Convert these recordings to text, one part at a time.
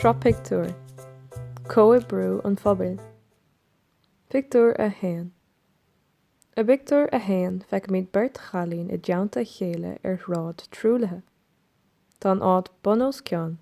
Sraith Pictiúr, Comhoibriú an Phobail, Pictiúr 1 I bpictiúr a haon feicimid beirt chailín i dteannta a chéile ar shráid truaillithe. Tá an áit bun os cionn.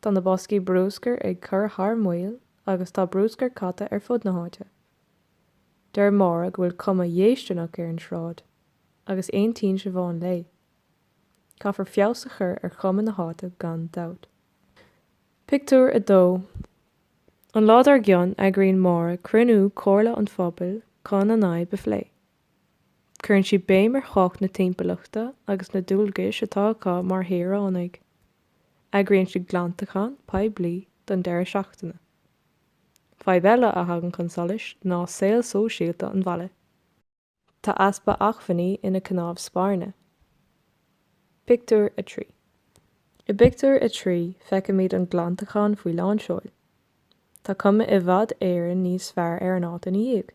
Tá na boscaí brúscair ag cur thar maoil agus tá brúscar caite ar fud na háite. Deir Máire go bhfuil cuma dhéistineach ar an tsráid, agus aontaíonn Siobhán léi. Caithfear feabhas a chur ar chuma na háite gan dabht. Pictiúr 2 An lá dár gcionn, eagraíonn Máire cruinniú comhairle an phobail chun an fhadhb a phlé. Cuireann sí béim ar thábhacht na timpeallachta agus na dualgais atá acu mar shaoránaigh. Eagraíonn sí glantachán poiblí don deireadh seachtaine. Fadhb eile a thagann chun solais ná saol sóisialta an bhaile. Tá easpa acmhainní ina cnámh spairne. Pictiúr 3 I bpictiúr a trí feicimid an glantachán faoi lánseol. Tá cuma i bhfad Éireann níos fearr ar an áit ina dhiaidh.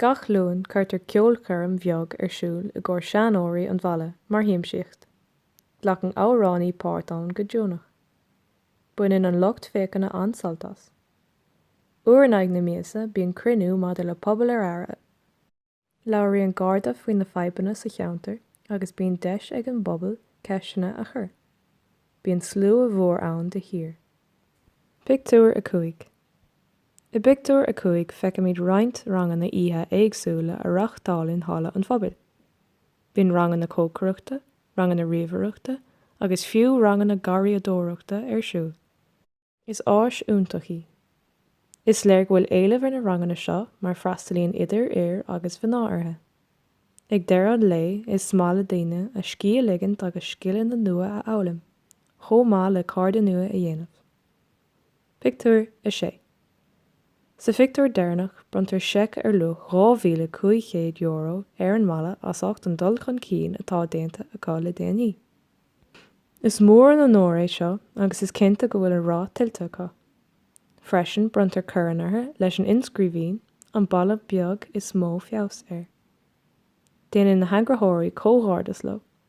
Gach Luan cuirtear ceolchoirm bheag ar siúl i gcomhair seanóirí an bhaile mar shiamsaíocht. Glacann amhránaí páirt ann go deonach. Baineann an lucht féachana an-sult as. Uair in aghaidh na míosa bíonn cruinniú maidir le Pobal ar Aire. Labhraíonn Garda faoi na fadhbanna sa cheantar agus bíonn deis ag an bpobal ceisteanna a chur. Bíonn slua mhór ann de shíor. Pictiúr 5 I bpictiúr a cúig feicimid roinnt ranganna oíche éagsúla á reáchtáil in Halla an Phobail. Bíonn ranganna cócaireachta, ranganna ríomhaireachta agus fiú ranganna garraíodóireachta ar siúl. Is áis iontach í. Is léir go bhfuil éileamh ar na ranganna seo mar freastalaíonn idir fhir agus mhná orthu. Ag deireadh an lae is maith le daoine a scíth a ligint agus scileanna nua a fhoghlaim, chomh maith le cairde nua a dhéanamh. Pictiúr 6 Sa phictiúr deireanach, bronntar seic ar luach €2,500 ar an mbaile as ucht an dul chun cinn atá déanta acu le déanaí. Is mór an onóir é seo agus is cinnte go bhfuil an rath tuillte acu. Freisin, bronntar corn orthu leis an inscríbhinn, An Baile Beag is mó Feabhas air. Déanann na heagraitheoirí comhghairdeas leo.